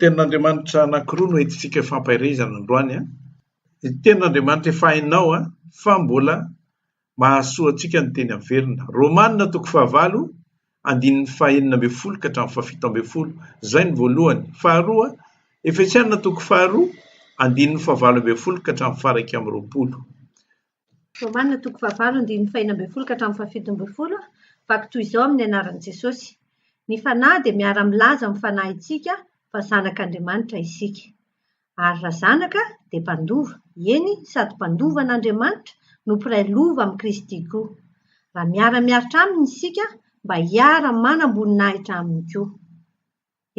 Tenin'Andriamanitra anankiroa no entintsika hifampaherezana androany an! Ny Tenin'Andriamanitra efa hainao an! Fa mbola mahasoa antsika ny teny averina. Romana toko fahavalo andininy fahenina ambin'ny folo ka hatramin'ny fahafito ambin'ny folo. Izay ny voalohany. Faharoa, Efesiana toko faharoa andininy fahavalo ambin'ny folo ka hatramin'ny faharaika amby roapolo. Romana toko fahavalo andininy fahenina ambin'ny folo ka hatramin'ny fahafito ambin'ny folo, vaky toy izao amin'ny anaran'i Jesosy, Ny Fanahy dia miara-milaza amin'ny fanahintsika fa zanak'Andriamanitra isika. Ary raha zanaka, dia mpandova, eny, sady mpandova an'Andriamanitra no mpiray lova amin'i Kristy koa, raha miara-miaritra Aminy isika mba hiara-manam-boninahitra Aminy koa.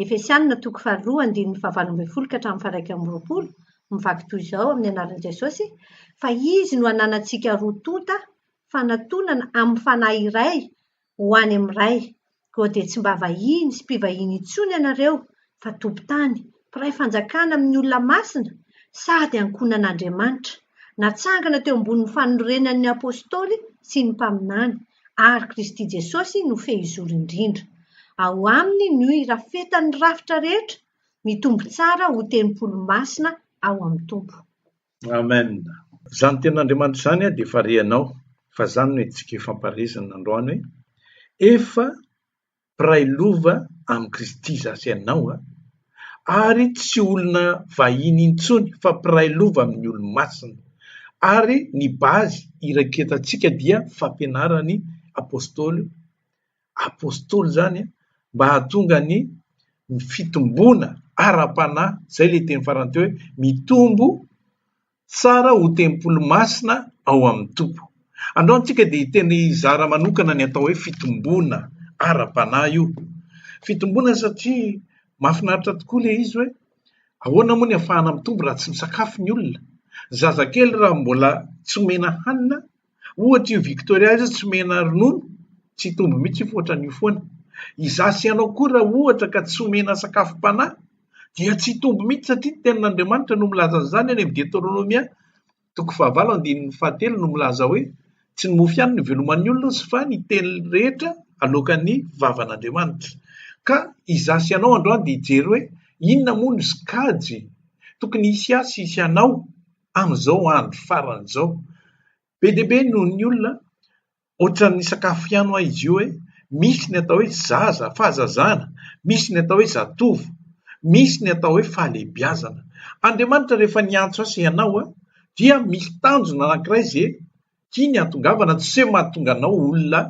Efesianina toko faharoa andininy fahavalo ambin'ny folo ka hatramin'ny faharaika amby roapolo, mivaky toy izao amin'ny anaran'i Jesosy, fa Izy no ananantsika roa tonta fanatonana amin'ny Fanahy iray ho any amin'ny Ray, koa dia tsy mba vahiny sy mpivahiny intsony ianareo, fa tompon-tany, mpiray fanjakana amin'ny olona masina, sady ankohonan'Andriamanitra. Natsangana teo ambonin'ny fanorenan'ny Apostoly sy ny Mpaminany, ary Kristy Jesosy no fehizoro indrindra. Ao Aminy no irafetan'ny rafitra rehetra mitombo tsara ho tempoly masina ao amin'ny Tompo. Amen! Izany Tenin'Andriamanitra izany dia efa renao, fa izany no hetsika ifampaharezinana androany hoe efa mpiray lova amin'i Kristy za sy ianao a, ary tsy olona vahiny intsony fa mpiray lova amin'ny olo-masina. Ary ny base iraketantsika dia fampianaran'ny Apostoly, Apostoly zany a, mba hahatonga ny fitomboana ara-panahy, zay le teny farany teo hoe mitombo Tsara ho tempoly masina ao amin'ny Tompo. Andao antsika dia hiteny hizara manokana ny atao hoe fitomboana ara-panahy io. Fitomboana satria mahafinaritra tokoa ilay izy hoe ahoana moa ny afahana mitombo raha tsy misakafo ny olona. Zazakely raha mbola tsy omena hanina Ohatra io Victoria io tsy omena ronono, tsy hitombo mihitsy io fa ohatran'io foana. Izaho sy ianao koa raha ohatra ka tsy omena sakafom-panahy dia tsy hitombo mihitsy satria ny tenin'Andriamanitra no milaza an'izany any amin'ny Deteronomia toko fahavalo andininy fahatelo no milaza hoe tsy ny mofo ihany no hiveloman'ny olona sy fa ny teny rehetra aloakan'ny vavan'Andriamanitra. Ka izaho sy ianao androany dia hijery hoe inona moa no sokajy tokony hisy ahy sy hisy anao amin'izao andro farany izao. Be dia be noho ny olona, ohatran'ny sakafo ihany hoa izy io hoe misy ny atao hoe zaza, fahazazana, misy ny atao hoe zatovo, misy ny atao hoe fahalehibiazana. Andriamanitra rehefa niantso ahy sy ianao dia misy tanjona anankiray izay tiany hahatongavana, tsy hoe mahatonga anao olona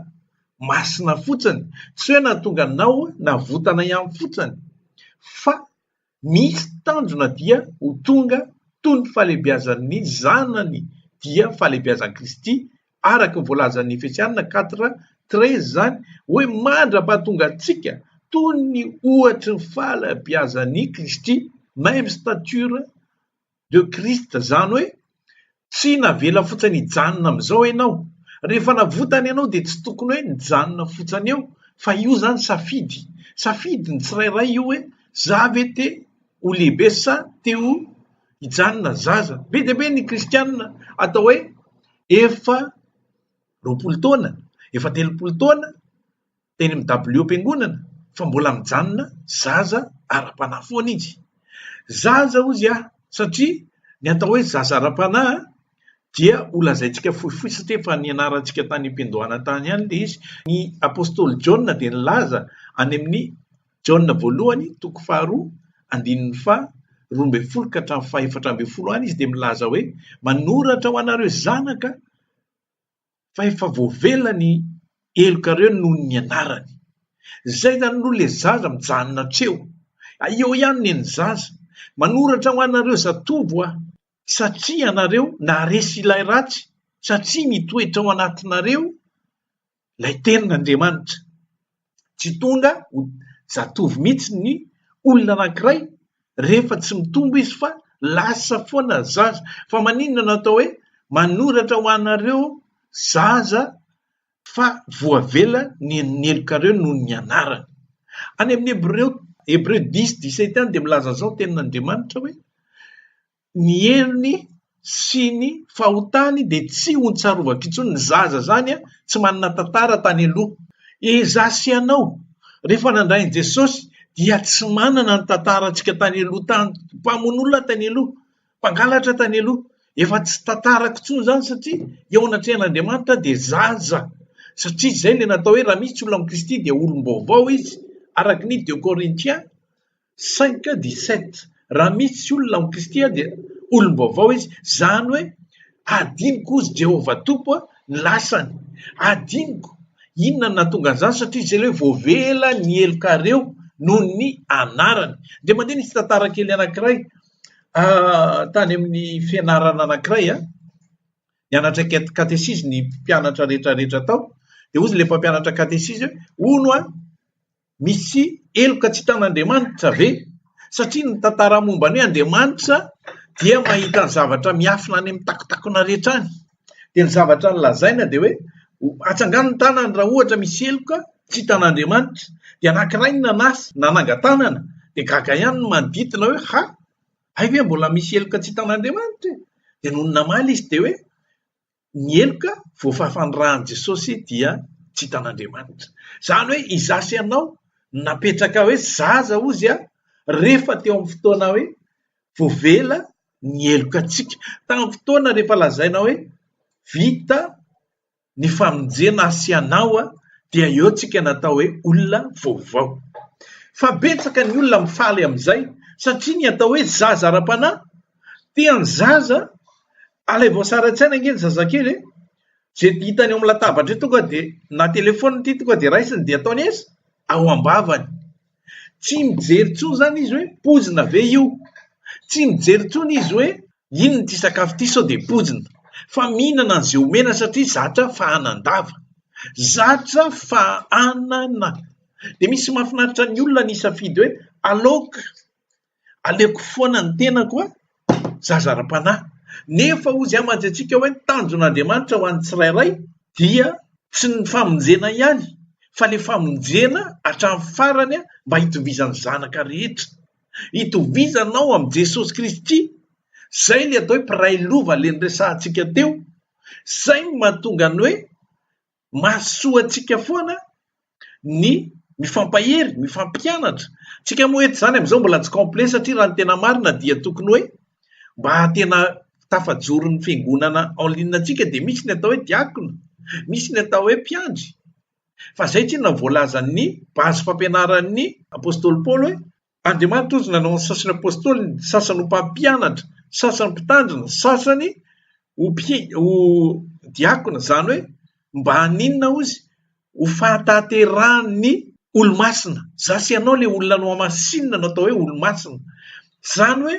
masina fotsiny, tsy hoe nahatonga anao navotana ihany fotsiny fa Misy tanjona dia ho tonga toy ny fahalehibiazan'ny zanany dia fahalehibiazan'i Kristy, araka ny voalazan'ny Efesiana quatre treize izany hoe mandra-pahatongantsika toy ny ohatry ny fahalehibiazan'i Kristy, même stature de christ zany hoe tsy navela fotsany hijanona amizao enao rehefa navotana ianao de tsy tokony hoe nijanona fotsany eo fa io zany safidy safidy ny tsirairay io hoe za ve te ho lehibe sa te ho hijanona zaza be de be ny kristianina atao hoe efa roapolo taona efa telopolo taona teny amin'ny dabiliom-piangonana fa mbola mijanona zaza ara-panahy foana izy. Zaza hozy aho satria ny atao hoe zaza ara-panahy dia holazaintsika fohifohy satria efa nianarantsika tany am-piandohana tany ihany ilay izy. Ny apostoly Jaona dia nilaza any amin'ny Jaona voalohany toko faharoa andininy faha roa ambin'ny folo ka hatramin'ny faha efatra ambin'ny folo any izy dia milaza hoe manoratra ho anareo zanaka fa efa voavela ny helokareo noho ny anarany. Zay zany aloha le zaza mijanona hatreo. Eo ihany ne ny zaza. Manoratra ho anareo zatovo aho satria ianareo naharesy ilay ratsy satria mitoetra ao anatinareo lay tenin'Andriamanitra. Tsy tonga ho zatovo mihitsy ny olona anankiray rehefa tsy mitombo izy fa lasa foana ny zaza. Fa maninona no atao hoe manoratra ho anareo zaza fa voavela ny helokareo noho ny anarany? Any amin'ny Hebreo, Hebreu dix dix sept any dia milaza izao ny tenin'Andriamanitra hoe ny heriny sy ny fahotany dia tsy ho tsarovako intsony, ny zaza zany tsy manana tantara tany aloha, izaho sy ianao rehefa nandray an'i Jesosy dia tsy manana ny tantarantsika tany aloha tany, mpamono olona tany aloha, mpangalatra tany aloha, efa tsy tantarako intsony izany satria eo anatrehan'Andriamanitra aho dia zaza, satria izay ilay natao hoe raha misy olona amin'i Kristy dia olom-baovao izy, araka ny deux Corinthiens. Cinq dix sept, raha misy tsy olona amin'i Kristy aho dia olom-baovao izy, izany hoe hadinoko hozy Jehovah Tompo a, ny lasany, hadinoko, inona no nahatonga an'izany? Satria izay ilay hoe voavela ny helokareo noho ny anarany. Dia mandeha nisy tantara kely anankiray tany amin'ny fianarana anankiray a, nianatra kat- katesizy ny mpianatra rehetra rehetra tao, dia hozy ilay mpampianatra katesizy hoe hono a, Misy heloka tsy hitan'Andriamanitra ve? Satria ny tantara momba ny hoe Andriamanitra dia mahita ny zavatra miafina any amin'ny takontakona rehetra any. Dia ny zavatra nolazaina dia hoe atsangano ny tanany raha ohatra misy heloka tsy hitan'Andriamanitra. Dia anankiray ny nanasa, nanangan-tanana. Dia gaga ihany ny manodidina hoe ha, hay ve mbola misy heloka tsy hitan'Andriamanitra e? Dia nony namaly izy dia hoe Ny heloka voafafan'ny ran'i Jesosy dia tsy hitan'Andriamanitra. Izany hoe izaho sy ianao napetraka hoe zaza ozy rehefa teo amin'ny fotoana hoe voavela ny heloka antsika. Tamin'ny fotoana rehefa lazaina hoe vita ny famonjena ahy sy ianao dia eo tsika natao hoe olona vaovao. Fa betsaka ny olona mifaly amin'izay satria ny atao hoe zaza ara-panahy Tia ny zaza, alay voasary an-tsaina ange ny zazakely e! Ze hitany eo amin'ny latabatra eo tonga dia na telefaonina ity tonga dia raisiny dia ataony aiza? Ao am-bavany. Tsy mijery intsony izany izy hoe poizina ve io? Tsy mijery intsony izy hoe inona ity sakafo ity sao dia poizina? Fa mihinana an'izay omena satria zatra fahanan-dava, zatra fahanana. Dia misy mahafinaritra ny olona ny hisafidy hoe aleoko Aleoko foana ny tenako a! zaza ara-panahy. Nefa hozy aho mantsy antsika hoe ny tanjon'Andriamanitra ho an'ny tsirairay dia tsy ny famonjena ihany fa le famonjena hatramin'ny farany mba hitovizan'ny zanaka rehetra. Hitovizanao amin'i Jesosy Kristy, zay le atao hoe mpiray lova le niresahantsika teo, zay no mahatonga ny hoe Mahasoa antsika foana ny mifampahery, mifampianatra. Tsika moa eto izany amin'izao mbola tsy complet satria raha ny tena marina dia tokony hoe mba tena tafajoro ny fiangonana en ligne antsika dia misy ny atao hoe diakona, misy ny atao hoe mpiandry fa izay tsinona voalazan'ny base fampianaran'ny apostoly Paoly hoe Andriamanitra ozy nanao ny sasany apostoly, ny sasany ho mpampianatra, ny sasany mpitandrina, ny sasany ho, ho diakona, izany hoe mba haninona ozy? Ho fahatanterahan'ny olomasina. Za sy ianao ilay olona nohamasinina no atao hoe olomasina. Izany hoe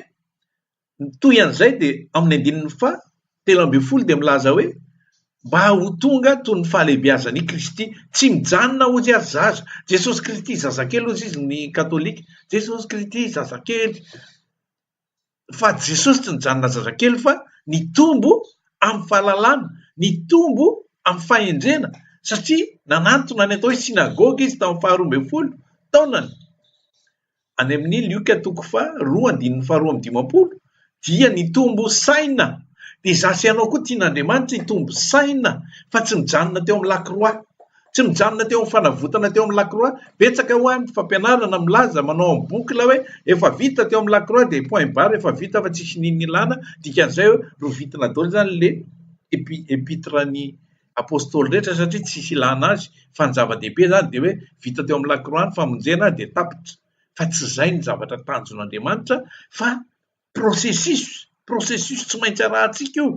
Mitohy an'izay dia amin'ny andininy faha telo ambin'ny folo dia milaza hoe, Mba ho tonga toy ny fahalehibeazan' i Kristy. Tsy mijanona ozy ary zaza. Jesosy Kristy zazakely ozy izy ny katolika. Jesosy Kristy zazakely. Fa Jesosy tsy nijanona zazakely fa nitombo amin'ny fahalalana, nitombo amin'ny fahendrena satria nanantona ny atao hoe sinagoga izy tamin'ny faharoa ambin'ny folo taonany. any amin'ny Lioka toko faha roa andininy faha roa amby dimampolo dia ny tombo saina dia izaho sy ianao koa tian'Andriamanitra hitombo saina fa tsy mijanona teo amin'ny lakroa tsy mijanona teo amin'ny fanavotana teo amin'ny lakroa betsaka ho any fampianarana milaza manao amin'ny bokla hoe efa vita teo amin'ny lakroa dia point barre efa vita fa tsisy nini ilana dikan'izay hoe rovitina daholo izany le epi epitre ny Apostoly rehetra satria tsisy ilana azy fa ny zava-dehibe izany dia hoe vita teo amin'ny lakroa ny famonjena dia tapitra fa tsy izay ny zavatra tanjon' Andriamanitra fa processus processus tsy maintsy arahantsika io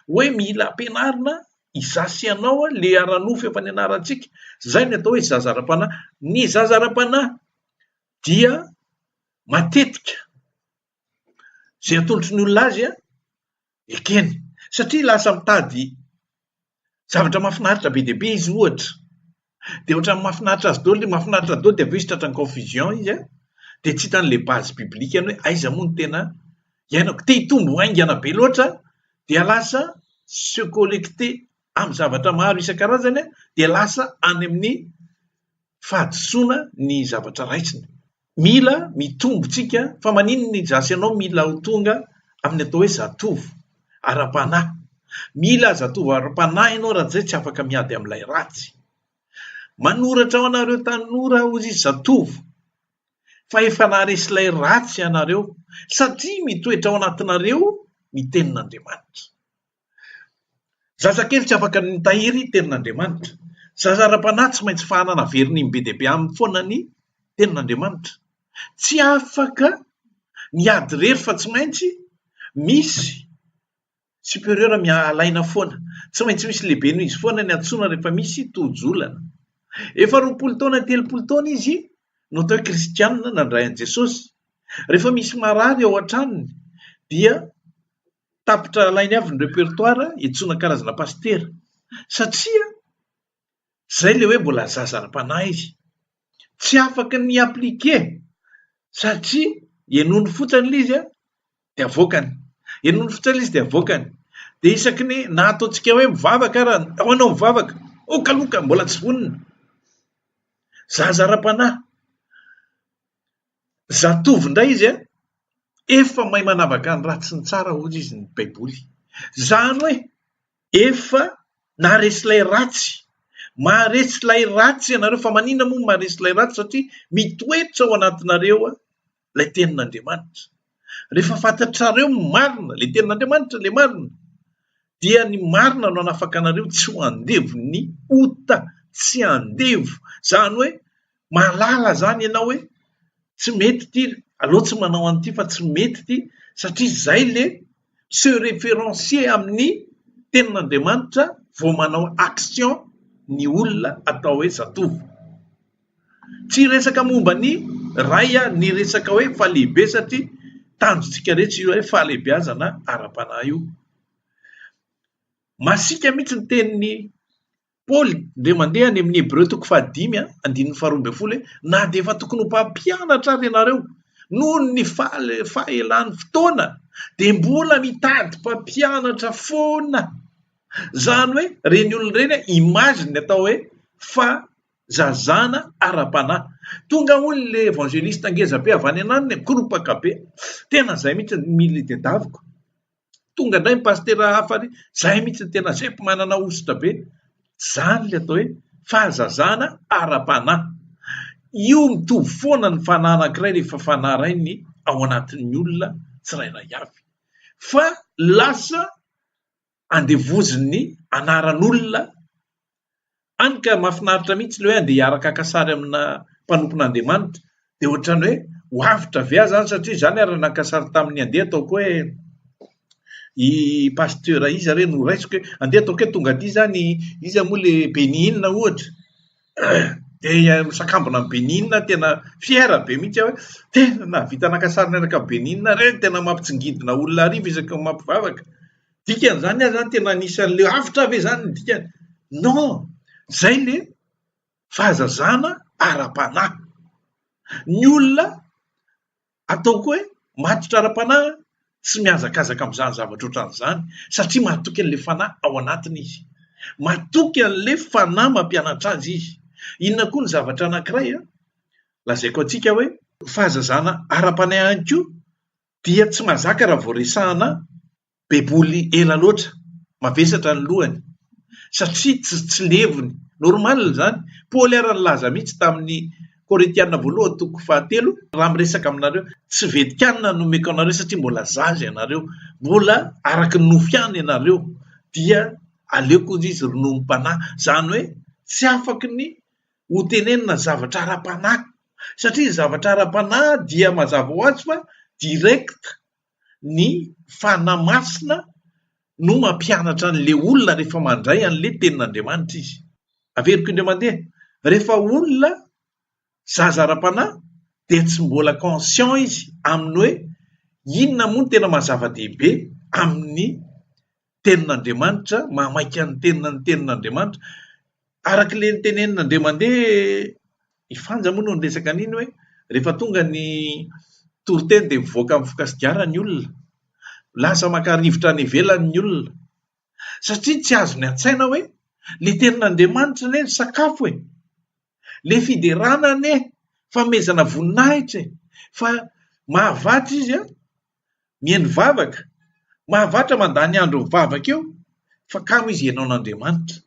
hoe mila ampianarina izaho sy ianao le ara-nofo efa nianarantsika izay ny atao hoe zaza ara-panahy ny zaza ara-panahy dia matetika izay atolotry ny olona azy an, ekeny satria lasa mitady zavatra mahafinaritra be dia be izy ohatra, dia ohatran'ny mahafinaritra azy daholo, mahafinaritra daholo dia avy eo izy tratran'ny confusion izy an, dia tsy hita an'ilay base biblique-ny hoe aiza moa no tena iainako, te hitombo haingana be loatra dia lasa se collecter amin'ny zavatra maro isan-karazany an, dia lasa any amin'ny fahadisoana ny zavatra raisiny. Mila mitombo tsika fa maninona i Jasy ianao mila ho tonga amin'ny atao hoe zatovo ara-panahy. Mila zatovo ara-panahy ianao raha tsy izay tsy afaka miady amin'ilay ratsy. Manoratra ho anareo tanora aho ry zatovo fa efa naharesy ilay ratsy ianareo satria mitoetra ao anatinareo ny tenin'Andriamanitra. Zazakely tsy afaka ny mitahiry tenin'Andriamanitra. Zaza ara-panahy tsy maintsy fahanana averiny be dia be aminy foana ny tenin'Andriamanitra. Tsy afaka ny hiady irery fa tsy maintsy misy superieur alaina foana. Tsy maintsy misy lehibe noho izy foana ny antsoina rehefa misy tojo-olana. Efa roapolo taona telopolo taona izy no atao hoe kristianina nandray an'i Jesosy. Rehefa misy marary ao an-tranony dia tapitra alainy avy ny repertoire iantsoana karazana pasitera satria zay le hoe mbola zaza ara-panahy izy tsy afaka ny appliqué satria henony fotsiny le izy a de avoakany henony fotsiny le izy de avoakany de isaky ny na ataontsika hoe mivavaka ara ao anao mivavaka okaloka mbola tsy vonona zaza ara-panahy Zatovo indray izy an! Efa mahay manavaka ny ratsy sy ny tsara hoy izy ny baiboly. Izany hoe efa naharesy ilay ratsy. Maharesy ilay ratsy ianareo fa maninona moa no maharesy ilay ratsy satria mitoetra ao anatinareo ilay tenin'Andriamanitra. Rehefa fantatrareo ny marina, ilay tenin'Andriamanitra ilay marina dia ny marina no hanafaka anareo tsy ho andevon'ny ota, tsy andevo. Izany hoe. mahalala zany ianao hoe tsy mety ity, aleo tsy manao an'ity fa tsy mety ity satria izay le se referencier amin'ny tenin'Andriamanitra vao manao action ny olona atao hoe zatovo. Tsy resaka momba ny ray a, ny resaka hoe fahalehibe satria tanjontsika rehetra io hoe fahalehibeazana ara-panahy io. Masiaka mihitsy ny tenin'ny Paoly dia mandeha any amin'ny Hebreo toko fahadimy andininy faharoa ambin'ny folo hoe, na dia efa tokony ho mpampianatra ary ianareo, noho ny fahelan'ny fotoana, dia mbola mitady mpampianatra foana. Izany hoe ireny olona ireny, image ny atao hoe fa zazana ara-panahy. Tonga hono le evangeliste ngeza be avy any ananiny, mikoropaka be. Tena izay mihitsy ny milieu tedaviko. Tonga indray ny pasitera hafa ary izay mihitsy ny tena zepo manana hosotra be. Izany ilay atao hoe fahazazana ara-panahy. Io mitovy foana ny fanahy anankiray rehefa fanahy iray ny ao anatin'ny olona tsirairay avy. Fa lasa andevozin'ny anaran'olona Any ka mafinaritra mihitsy ilay hoe andeha hiaraka haka sary amina mpanompon'Andriamanitra dia ohatrany hoe ho avotra ve aho izany satria izaho ary naka sary tamin'ny andeha ataoko hoe i pasteur iza re no raisiko hoe andeha ataoko hoe tonga aty izany iza moa le Benin ohatra dia misakambina amin'ny Benin tena fier be mihitsy aho hoe tena nahavita naka sary niaraka amin'ny Benin re tena mampitsingidina olona hariva isaky ny mampivavaka dikany zany ary zany tena anisan'le avotra ve zany ny dikany non zay le fahazazana ara-panahy ny olona ataoko hoe matotra ara-panahy tsy mihazakazaka am'zany zavatra ohatran'zany satria mahatoky an'le fanahy ao anatiny izy matoky an'le fanahy mampianatra azy izy inona koa ny zavatra anakiray an lazaiko antsika hoe fahazazana ara-panahy ihany koa dia tsy mazaka raha vao resahana baiboly ela loatra, mavesatra ny lohany satria tsy tsy levony, normal izany, Paoly ary nilaza mihitsy tamin'ny Korintiana voalohany toko fahatelo, raha miresaka aminareo, tsy vedikanina no omeko anareo satria mbola zaza ianareo, mbola araka ny nofo ihany ianareo, dia aleoko hoy izy rononom-panahy, izany hoe tsy afaky ny ho tenenina zavatra ara-panahy satria ny zavatra ara-panahy dia mazava ho azy fa direct ny fanahy masina no mampianatra an'ilay olona rehefa mandray an'ilay tenin'Andriamanitra izy. Averiko indray mandeha, rehefa olona zaza ara-panahy dia tsy mbola conscient izy amin'ny hoe inona moa no tena maha zava-dehibe amin'ny tenin'Andriamanitra, mahamaika ny tenina ny tenin'Andriamanitra. Araka ilay nitenenina indray mandeha, i Fanja moa no niresaka an'iny hoe rehefa tonga ny toriteny dia mivoaka mifoka sigara ny olona, lasa maka rivotra any ivelany ny olona. Satria tsy azony an-tsaina hoe ilay tenin'Andriamanitra anie ny sakafo e, ilay fiderana anie fanomezana voninahitra e, fa mahavatra izy an, Mihaino vavaka. Mahavatra mandany andro mivavaka eo fa kamo izy hihaino an'Andriamanitra.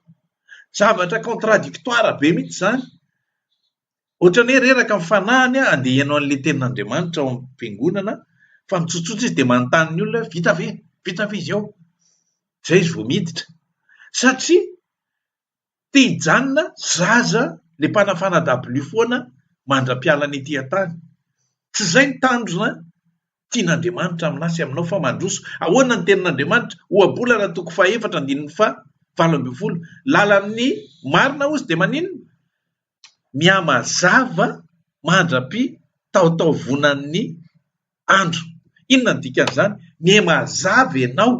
Zavatra contradictoire be mihitsy izany. Ohatran'ny hoe reraka ny fanahiny handeha hihaino an'ilay tenin'Andriamanitra ao amin'ny fiangonana fa mitsotsotra izy dia manontany ny olona hoe vita ve? Vita ve izy ao? Izay izy vao miditra. Satria Te hijanona zaza le mpanafana dabilio foana mandra-piala ny ety an-tany. Tsy izay ny tanjona tian'Andriamanitra aminà sy aminao fa mandroso. Ahoana ny tenin'Andriamanitra? Ohabolana toko fahaefatra andininy faha valo ambin'ny folo, Lalan'ny marina ozy dia maninona? mihamazava mandra-pitaotaovonan'ny andro. Inona no dikan'izany? Mihamazava ianao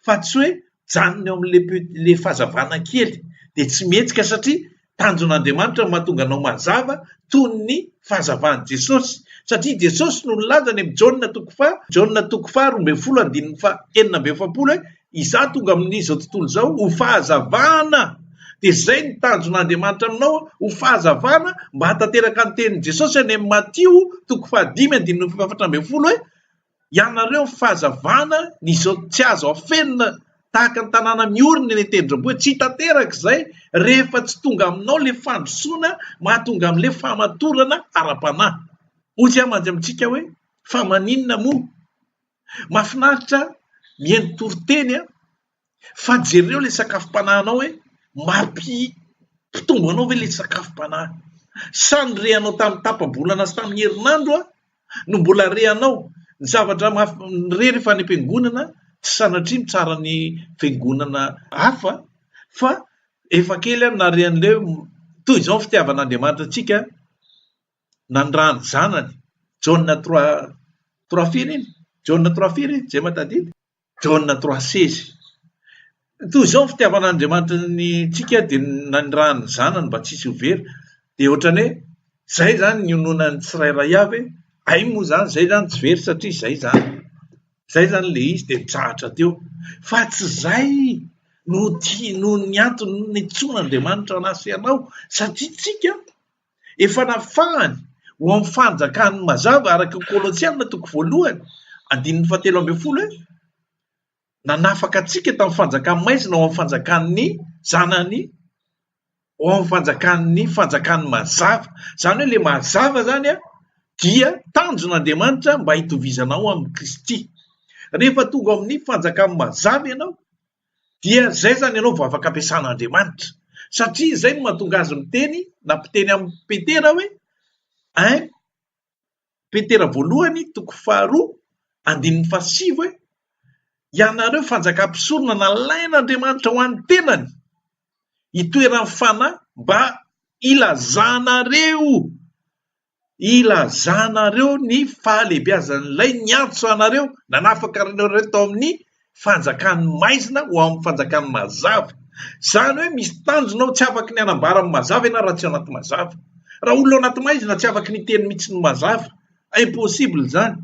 fa tsy hoe mijanona eo amin'ilay pe- ilay fahazavana kely dia tsy mihetsika satria tanjon'Andriamanitra no mahatonga anao mazava toy ny fahazavan'i Jesosy satria i Jesosy no nilaza any amin'ny Jaona toko faha- Jaona toko faharoa ambin'ny folo andininy faha enina amby efapolo hoe Izaho tonga amin'izao tontolo izao ho fahazavana, dia izay ny tanjon'Andriamanitra aminao, ho fahazavana, mba hahatanteraka ny tenin'i Jesosy any amin'ny Matio toko fahadimy andininy fahefatra ambin'ny folo hoe, Ianareo ny fahazavana, ny izao tsy azo afenina, tahaka ny tanàna miorina eny an-tendrombohitra, hoe tsy hitanteraka izay rehefa tsy tonga aminao ilay fandrosoana mahatonga amin'ilay fahamatorana ara-panahy. Hoy aho mandry amintsika hoe, fa maninona moa? Mahafinaritra mihaino toriteny a! Fa jereo ilay sakafom-panahinao hoe mampi-pitombo anao ve ilay sakafom-panahy? Sa ny reanao tamin'ny tapa-bolana sy tamin'ny herinandro no mbola reanao? Ny zavatra maha- re rehefa any am-piangonana, tsy sanatria mitsara ny fiangonana hafa fa efa kely aho nare an'ilay hoe toy izao ny fitiavan'Andriamanitra antsika nandrany zanany Jaona Trois Trois firy iny? Jaona Trois firy iny? Jema tadidy? Jaona Trois seize toy izao ny fitiavan'Andriamanitra ny tsika dia nandrany ny zanany mba tsy hisy ho very dia ohatrany hoe zay zany ny ononan'ny tsirairay avy ay moa zany zay zany tsy very satria zay zany zay zany le izy dia mitsahatra teo fa tsy zay no ti noho ny antony nitsoan'Andriamanitra anazy sy anao satria tsika Efa nafahany ho amin'ny fanjakan'ny mazava araka i Kolosiana toko voalohany andininy fahatelo ambin'ny folo hoe nanafaka antsika tamin'ny fanjakan'ny maizina ho amin'ny fanjakan'ny zanany ho amin'ny fanjakan'ny fanjakan'ny mazava. Izany hoe ilay mazava izany a dia tanjon'Andriamanitra mba hitovizanao amin'i Kristy. Rehefa tonga amin'ny fanjakan'ny mazava ianao dia izay izany ianao vao afaka ampiasana Andriamanitra. Satria izay no mahatonga azy miteny na mpiteny amin'ny Petera hoe un Petera voalohany toko faharoa andininy fahasivy hoe ianareo fanjakam-pisorona nalain'Andriamanitra ho an'ny tenany itoeran'ny fanahy mba ilazanareo ilazanareo ny fahalehibiazan'Ilay niantso anareo nanafaka anareo tao amin'ny fanjakan'ny maizina ho amin'ny fanjakan'ny mazava. Izany hoe misy tanjona ao tsy afaka ny hanambara amin'ny mazava ianao raha tsy ao anaty mazava. Raha olona ao anaty maizina tsy afaka ny hiteny mihitsy ny mazava. Impossible izany.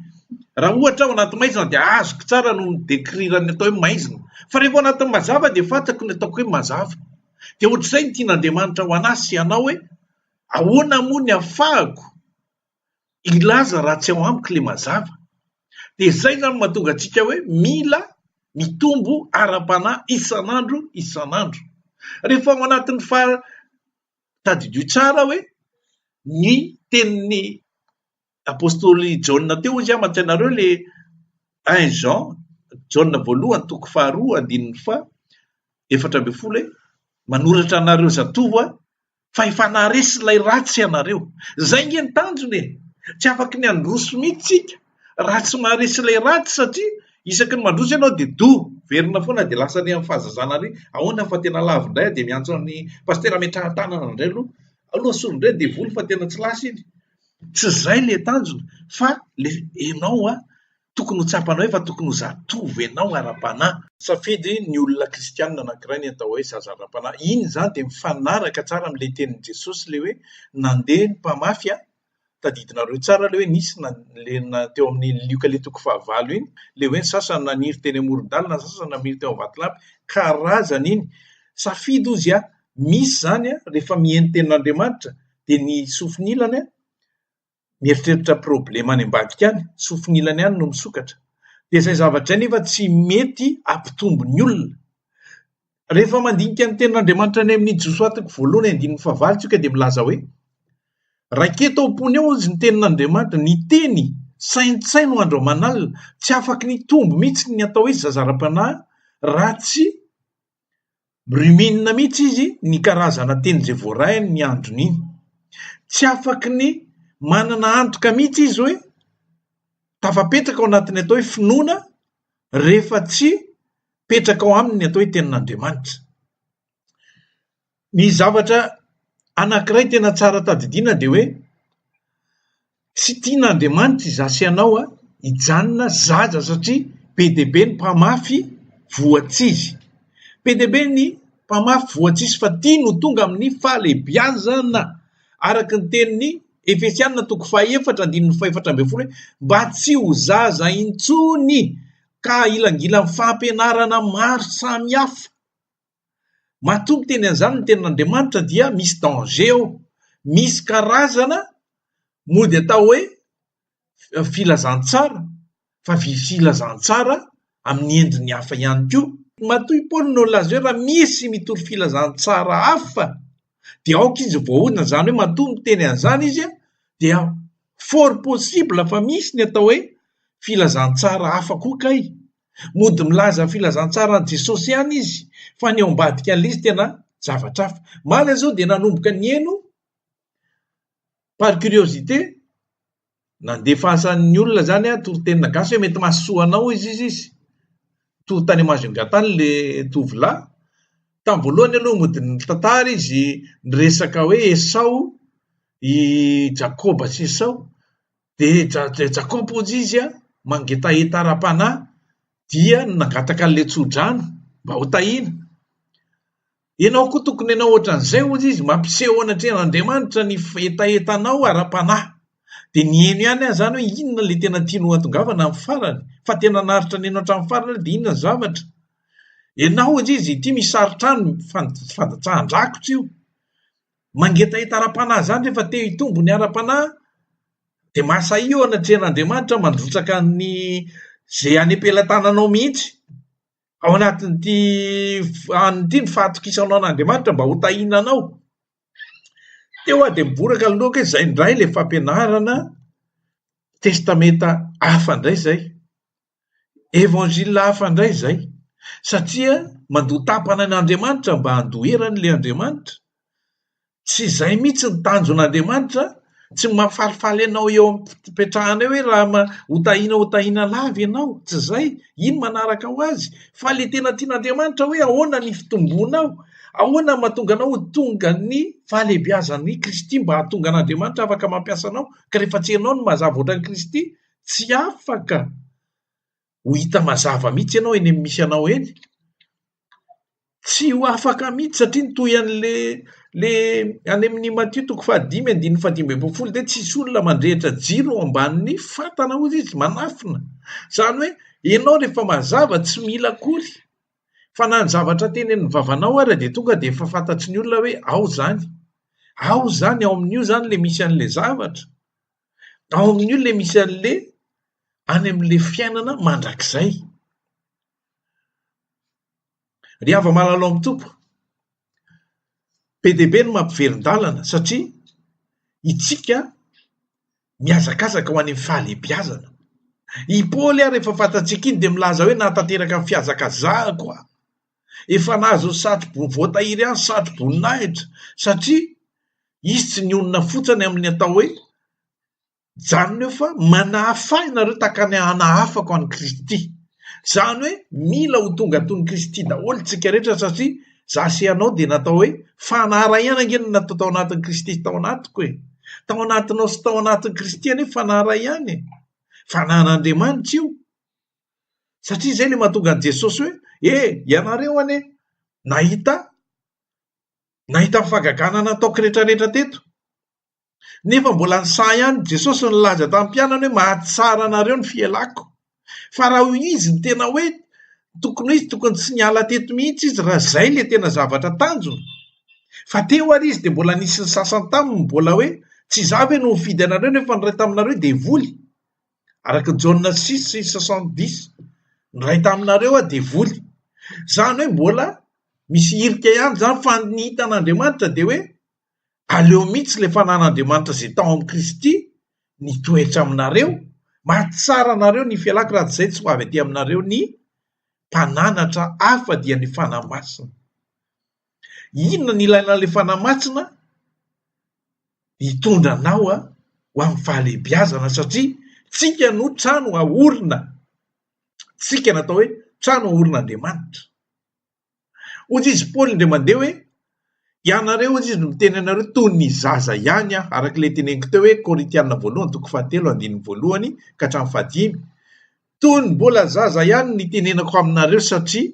Raha ohatra ao anaty maizina dia azoko tsara no mi-décrire ny atao hoe maizina. Fa rehefa ao anatin'ny mazava dia fantako ny ataoko hoe mazava. Dia ohatr'izay ny tian'Andriamanitra ho anà sy anao hoe Ahoana moa ny afahako hilaza raha tsy ao amiko le mazava? De zay zany no mahatonga antsika hoe mila mitombo ara-panahy isan'andro isan'andro. Rehefa ao anatin'ny faha- tadidio tsara hoe ny tenin'ny Apostoly Jaona teo izy ama tsy anareo le un Jean Jaona voalohany toko faharoa andininy fa efatra ambin'ny folo hoe manoratra anareo zatovo a fa efa naharesy ilay ratsy ianareo zay nge ny tanjony e tsy afaka ny androso mihitsy tsika raha tsy maharesy ilay ratsy satria isaky ny mandroso ianao dia do verina foana dia lasa any amin'ny fahazazana ary ahoana fa tena lavo indray dia miantso an'ny pastera ametrahan-tanana indray aloha aloha solon-dray devoly fa tena tsy lasa iny Tsy izay ilay tanjona fa ilay ianao a, tokony ho tsapanao efa tokony ho zatovo ianao ara-panahy. Safidy ny olona kristianina anankiray ny atao hoe zaza ara-panahy. Iny izany dia mifanaraka tsara amin'ilay tenin'i Jesosy ilay hoe nandeha ny mpamafy a, tadidinareo tsara ilay hoe nisy na teo amin'ny Lioka ilay toko fahavalo iny, ilay hoe ny sasany naniry teny amoron-dalana, ny sasany naniry teo amin'ny vatolampy, karazany iny. Safidy hozy a, misy izany a, rehefa miheno ny tenin'Andriamanitra. dia ny sofin'ilany an, mieritreritra problema any ambadika any, sofin'ilany any no misokatra. Dia izay zavatra izay nefa tsy mety hampitombo ny olona. Rehefa mandinika ny tenin'Andriamanitra any amin'ny Josoa toko voalohany andininy fahavalo tsika dia milaza hoe Raketo ao am-pony ao hozy ny tenin'Andriamanitra, ny teny saintsaino andro aman'alina, tsy afaka nitombo mihitsy ny atao hoe zazara-panahy raha tsy Ruminina mihitsy izy ny karazana teny izay voarahiny ny androny iny. Tsy afaky ny manana antoka mihitsy izy hoe tafapetraka ao anatin'ny atao hoe finoana rehefa tsy petraka ao aminy ny atao hoe tenin'Andriamanitra. Ny zavatra anankiray tena tsara tadidiana dia hoe Tsy tian'Andriamanitra izaho sy ianao hijanona zaza satria be dia be ny mpamafy voatsizy. Be dia be ny mpamafy voatsizy fa ity no tonga amin'ny fahalehibiazana. Araka ny tenin'ny Efesianina toko fahefatra andininy fahefatra ambin'ny folo hoe mba tsy ho zaza intsony ka hilangilan'ny fampianarana maro samihafa. Matoa miteny an'izany ny tenin'Andriamanitra dia misy danger ao. Misy karazana mody atao hoe filazantsara fa filazantsara amin'ny endriny hafa ihany koa. Matoa i Paoly no nilaza hoe raha misy mitory filazantsara hafa dia aoka izy voahodina, izany hoe matoa miteny an'izany izy dia fort possible fa misy ny atao hoe filazantsara hafa koa kay. Mody milaza filazantsara an'i Jesosy ihany izy fa ny ao ambadikan'ilay izy tena zavatra hafa. Mala izao dia nanomboka nihaino par curiosité nandefasan'ny olona izany aho toritenina gasy hoe mety mahasoa anao hoy izy izy. Toa tany Majunga tany ilay tovolahy. Tamin'ny voalohany aloha mody nitantara izy niresaka hoe Esao i Jakoba sy Esao dia dra dra Jacob hozy izy an, mangetaheta ara-panahy dia nangataka an'ilay tsodrano mba ho tahiana. Ianao koa tokony hanao ohatran'izay hozy izy, mampiseho an'Andriamanitra ny hetahetanao ara-panahy. Dia niheno ihany aho izany hoe inona ilay tena tianao hatongavana amin'ny farany, fa tena naharitra niheno hatramin'ny farany aho dia inona ny zavatra. Ianao hozy izy, ity misy sarin-trano, fandatsahan-drakitra io. Mangetaheta ara-panahy izany rehefa te hitombo ny ara-panahy dia mahasahia eo anatrehan'Andriamanitra mandrotsaka ny izay any am-pelatananao mihitsy. Ao anatin'ity an'ity ny fahatokisanao an'Andriamanitra mba ho tahiana anao. Teo aho dia miboraka ny lohako hoe izay indray ilay fampianarana testamenta hafa indray izay. Évangile hafa indray izay, satria mandoa tapana an' Andriamanitra mba handoherany ilay Andriamanitra. Tsy izay mihitsy ny tanjon' Andriamanitra, tsy mampifalifaly anao eo am-pipetrahanao hoe raha ma- ho tahina ho tahina lava ianao, tsy izay, iny manaraka ho azy, fa ilay tena tian' Andriamanitra hoe ahoana ny fitombonao, ahoana ny mahatonga anao ho tonga ny fahalehibeazan' i Kristy mba hahatonga an' Andriamanitra afaka mampiasa anao, ka rehefa tsy ianao no mazava ohatra an'i Kristy, tsy afaka ho hita mazava mihitsy ianao eny amin'ny misy anao eny, tsy ho afaka mihitsy satria ny toy an'le le any amin'i Matio toko fahadimy andininy fahadimy ambin'ny folo dia tsy hisy olona mandrehitra jiro ao ambanin'ny fatana hozy izy manafina, izany hoe ianao rehefa mazava tsy mila akory fa na ny zavatra teny amin'ny vavanao ary dia tonga dia efa fantatry ny olona hoe ao izany, ao izany ao amin'io izany ilay misy an'ilay zavatra. Ao amin'io ilay misy an'ilay any amin'ilay fiainana mandrakizay. Ry hava-malalao amin'ny Tompo, be dia be ny mampiverin-dalana satria itsika mihazakazaka ho any amin'ny fahalehibiazana. I Paoly ary efa fantatsika iny dia milaza hoe nahatanteraka ny fihazakazahako aho. efa nahazo ny satro-bo voatahiry ihany satro-boninahitra satria izy tsy nionona fotsiny amin'ny atao hoe janona eo fa manahafay nareo tahaka ny hanahafako an'i Kristy. Izany hoe mila ho tonga toy ny Kristy daholo tsika rehetra satria za sy ianao dia natao hoe fanarahiana ange no natao tao anatin'i Kristy tao anatiko e. Tao anatinao sy tao anatin'i Kristy anie fanarahiana e. Fanahin'Andriamanitra io. Satria izay ilay mahatonga an'i Jesosy hoe, E, ianareo anie nahita nahita ny fahagagana nataoko rehetrarehetra teto. Nefa mbola nisaha ihany i Jesosy nilaza tamin'ny mpianany hoe, Mahatsara anareo ny fialako. Fa raha hoy izy ny tena hoe tokony hoe izy tokony tsy niala teto mihitsy izy raha izay ilay tena zavatra tanjona. Fa teo ary izy dia mbola nisy ny sasany taminy mbola hoe, Tsy izaho ve no nifidy anareo nefa ny iray taminareo devoly? araka ny Jaona six sy soixante dix ny iray taminareo aho devoly izany hoe mbola misy hirika ihany izany fa ny hitan'Andriamanitra dia hoe aleo mihitsy ilay fanan'Andriamanitra izay tao amin'i Kristy nitoetra aminareo maha tsara anareo ny fialako raha tsy izay tsy ho avy aty aminareo ny mpananatra hafa dia ny fanahy masina Inona no ilaina ilay Fanahy Masina? Hitondra anao ho amin'ny fahalehibiazana satria tsika no trano ahorina, tsika no atao hoe trano aorin'Andriamanitra. Hoy izy Paoly indray mandeha hoe ianareo hoy izy no miteny anareo toy ny zaza ihany aho, araka ilay teneniko teo hoe Korintiana voalohany toko fahatelo andininy voalohany ka hatramin'ny fahadimy. Toy ny mbola zaza ihany ny tenenako aminareo satria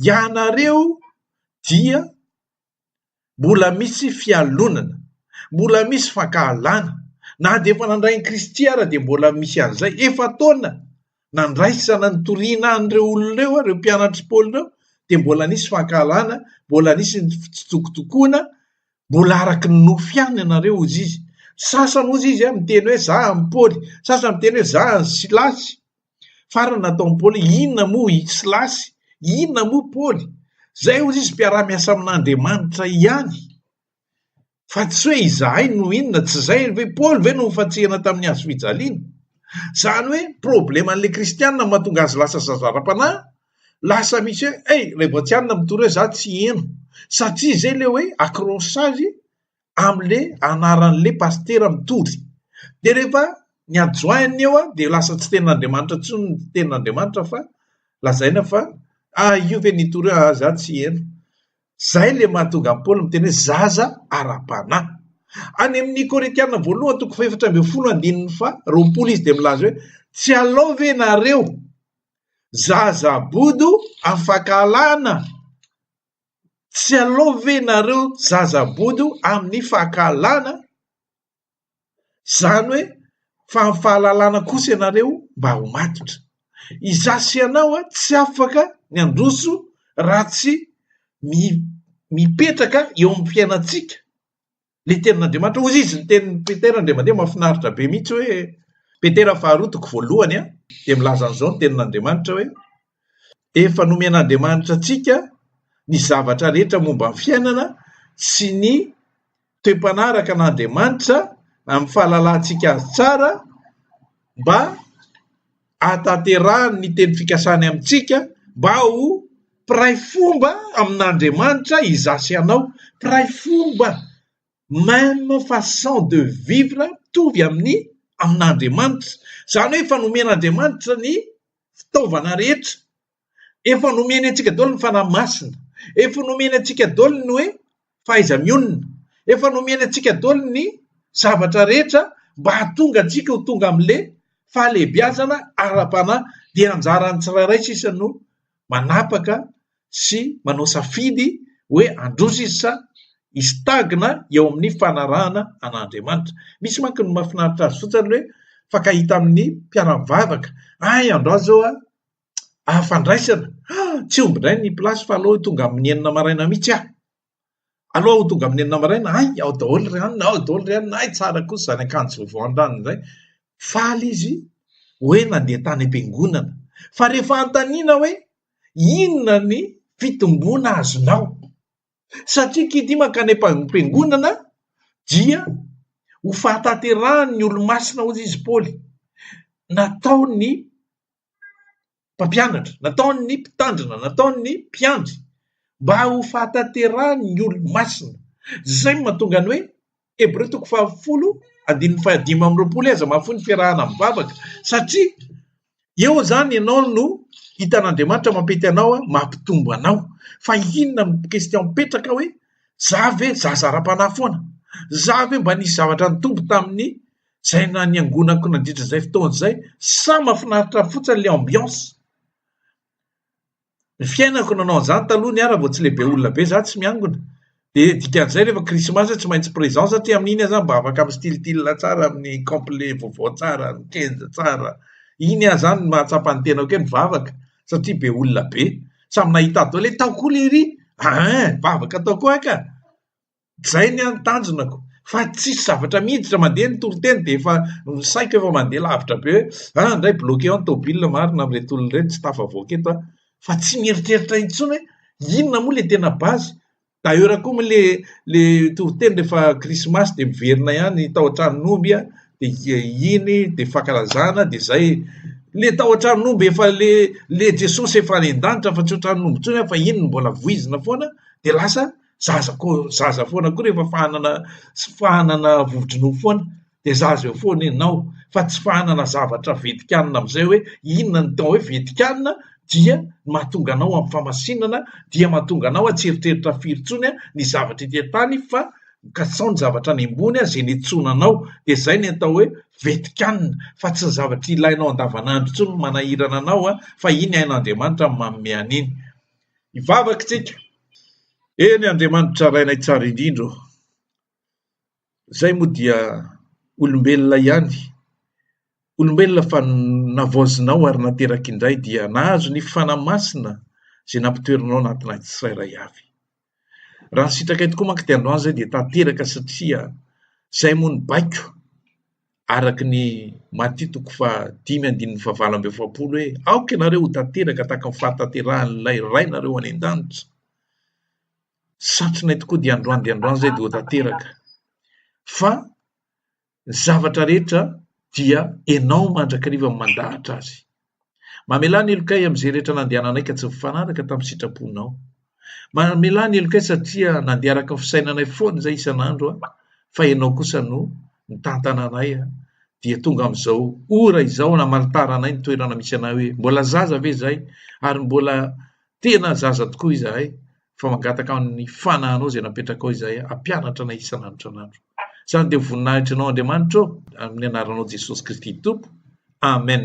ianareo dia mbola misy fialonana, mbola misy fankahalana. Na dia efa nandray an'i Kristy ara dia mbola misy an'izay. Efa taona nandraisana nitoriana an'ireo olona ireo, ireo mpianatr'i Paoly ireo, dia mbola nisy fankahalana, mbola nisy ny fitsitokotokoana, Mbola araky ny nofo ihany ianareo hozy izy. Sasany hozy izy an miteny hoe za an'i Paoly, sasany miteny hoe za an'i Silasy. Farany nataon'i Paoly hoe inona moa i Silasy? Inona moa Paoly? Zay hozy izy mpiara-miasa amin'Andriamanitra ihany. Fa tsy hoe izahay no inona, tsy zay ve Paoly ve no nofantsihana tamin'ny hazo fijaliana? Zany hoe problema an'ilay kristianina mahatonga azy lasa zaza ara-panahy lasa misy hoe ey ray boatianina mitory hoe za tsy heno satria zay le hoe acrochage amle anaranle pastera mitory de rehefa ny adjoint-ny eo a de lasa tsy tenin'andriamanitra tsony ny tenin'andriamanitra fa lazaina fa ah io ve nitory hoe ah za tsy heno zay le mahatonga an'i paoly miteny hoe zaza ara-panahy any amin'ny korintiana voalohany toko fahefatra ambin'ny folo andininy fa roapolo izy de milaza hoe tsy alao ve nareo Zaza bodo afaka alana? Tsy alao ve nareo zaza bodo amin'ny fakahalana? Zany hoe fa amin'ny fahalalana kosa ianareo mba ho matotra. Iza sy ianao tsy afaka ny handroso raha tsy mipetraka eo amin'ny fiainantsika. Ilay tenin'Andriamanitra, hoy izy ny tenin'i Petera indray mandeha, mahafinaritra be mihitsy hoe, Petera faharoa toko voalohany an, dia milaza an'izao ny tenin'Andriamanitra hoe, efa nomen'Andriamanitra antsika ny zavatra rehetra momba ny fiainana sy ny toe-panahy araka an'Andriamanitra amin'ny fahalalantsika azy tsara mba hahatanterahany ny teny fikasany amintsika mba ho mpiray fomba amin'Andriamanitra izaho sy ianao, mpiray fomba même façon de vivre mitovy amin'ny amin'Andriamanitra, izany hoe efa nomen'Andriamanitra ny fitaovana rehetra Efa nomeny antsika daholo ny fanahy masina. Efa nomeny antsika daholo ny hoe fahaiza-mionona. Efa nomeny antsika daholo ny zavatra rehetra mba hahatonga antsika ho tonga amin'le fahalehibiazana ara-panahy. Dia anjaran'ny tsirairay sisa no manapaka sy manao safidy hoe handroso izy sa histagna eo amin'ny fanarahana an'Andriamanitra. Misy manko ny mahafinaritra azy fotsiny hoe fakahita amin'ny mpiara-mivavaka. Ay, andao zao a, Ah fandraisana! Ah tsy omby indray ny place fa aleo tonga amin'ny enina maraina mihitsy aho. Aleo aho tonga amin'ny enina maraina, hay ao daholo ry anona, ao daholo ry anona, hay tsara kosa izany akanjo vaovao an-drano izay. Faly izy hoe nandeha tany am-piangonana. Fa rehefa anontaniana hoe inona ny fitomboana azonao? Satria kity mankany am-piangonana dia ho fahatanterahan'ny olomasina hozy izy Paoly. Natao ny mpampianatra, nataon'ny mpitandrina, nataon'ny mpiandry mba ho fahatanterahan'ny olo-masina. Izay no mahatonga ny hoe Hebreo toko fahafolo andininy fahadimy amby roapolo hoe aza mahafoy ny fiarahana amin'ny vavaka satria eo izany ianao no hitan'Andriamanitra mampety anao, mampitombo anao. Fa inona no question mipetraka hoe za ve zaza ara-panahy foana? Za ve mba nisy zavatra nitombo tamin'ny Zay na niangonako nandritra zay fotoana zay sa mafinaritra fotsiny le ambiance ny fiainako nanao an'izany taloha ny ara vao tsy lehibe olona be za tsy miangona de dikan'izay rehefa krismasy tsy maintsy présent satria amin'iny aza mba afaka mistilitila tsara amin'ny complet vaovao tsara ny kenja tsara iny aza zany mahatsapa ny tenako hoe mivavaka satria be olona be samy nahita daholo hoe tao koa lery ah vavaka tao koa ka Izay ny an tanjonako fa tsisy zavatra miditra mandeha ny toriteny dia efa ny saiko efa mandeha lavitra be hoe ah indray bloqué ao ny tôbila marina amin'ireto olona ireto tsy tafavoaka eto aho fa tsy mieritreritra intsony hoe inona moa le tena base d'ailleurs koa moa le le toriteny rehefa krismasy dia miverina ihany tao an-tranon'omby a dia iny dia fankalazana dia izay le tao an-tranon'omby efa le le Jesosy efa any an-danitra fa tsy ho tranon'omby intsony aho fa iny no mbola voizina foana dia lasa zaza ko zaza foana koa rehefa fahanana sy fahanana vovo-dronono foana dia zaza eo foana ianao fa tsy fahanana zavatra vetikanina amin'izay hoe inona ny tao hoe vetikanina dia mahatonga anao amin'ny famasinana dia mahatonga anao atsy eritreritra firy tsony a ny zavatra ity an-tany fa kasao ny zavatra any ambony a zay nitsona anao dia zay ny atao hoe vetikanina fa tsy ny zavatra ilainao andavanandro tsony manahirana anao a fa iny hain'Andriamanitra manome an'iny Hivavaka isika. Eny, Andriamanitra Rainay Tsara Indrindra ô, izahay moa dia olombelona ihany, olombelona fa navaozinao ary nateraka indray dia nahazo ny fanahy masina izay nampitoerinao anatinay tsirairay avy. Raha ny sitrakay tokoa manko dia androany izay dia tanteraka satria izay moa no baiko araka ny Matia toko fahadimy andininy fahavalo amby efapolo hoe aoka ianareo ho tanteraka tahaka ny fahatanterahan'ilay Rainareo any an-danitra. Satrinay tokoa dia androany dia androany izay dia ho tanteraka fa Ny zavatra rehetra dia enao mandrakariva no mandahatra azy. Mamelà ny helokay amin'izay rehetra nandehananay ka tsy nifanaraka tamin'ny sitraponao. Mamelà ny helokay satria nandeha araka ny fisainanay foana izay isan'andro aho fa enao kosa no nitantana anay dia tonga amin'izao ora izao namanitaranay ny toerana misy anay hoe mbola zaza ve izay ary mbola Tena zaza tokoa izahay fa mangataka ny fanahanao izay napetrakao izahay hampianatra anay isan'andro isan'andro. Izany dia voninahitra anao Andriamanitra ô, amin'ny anaranao Jesosy Kristy Tompo. Amen.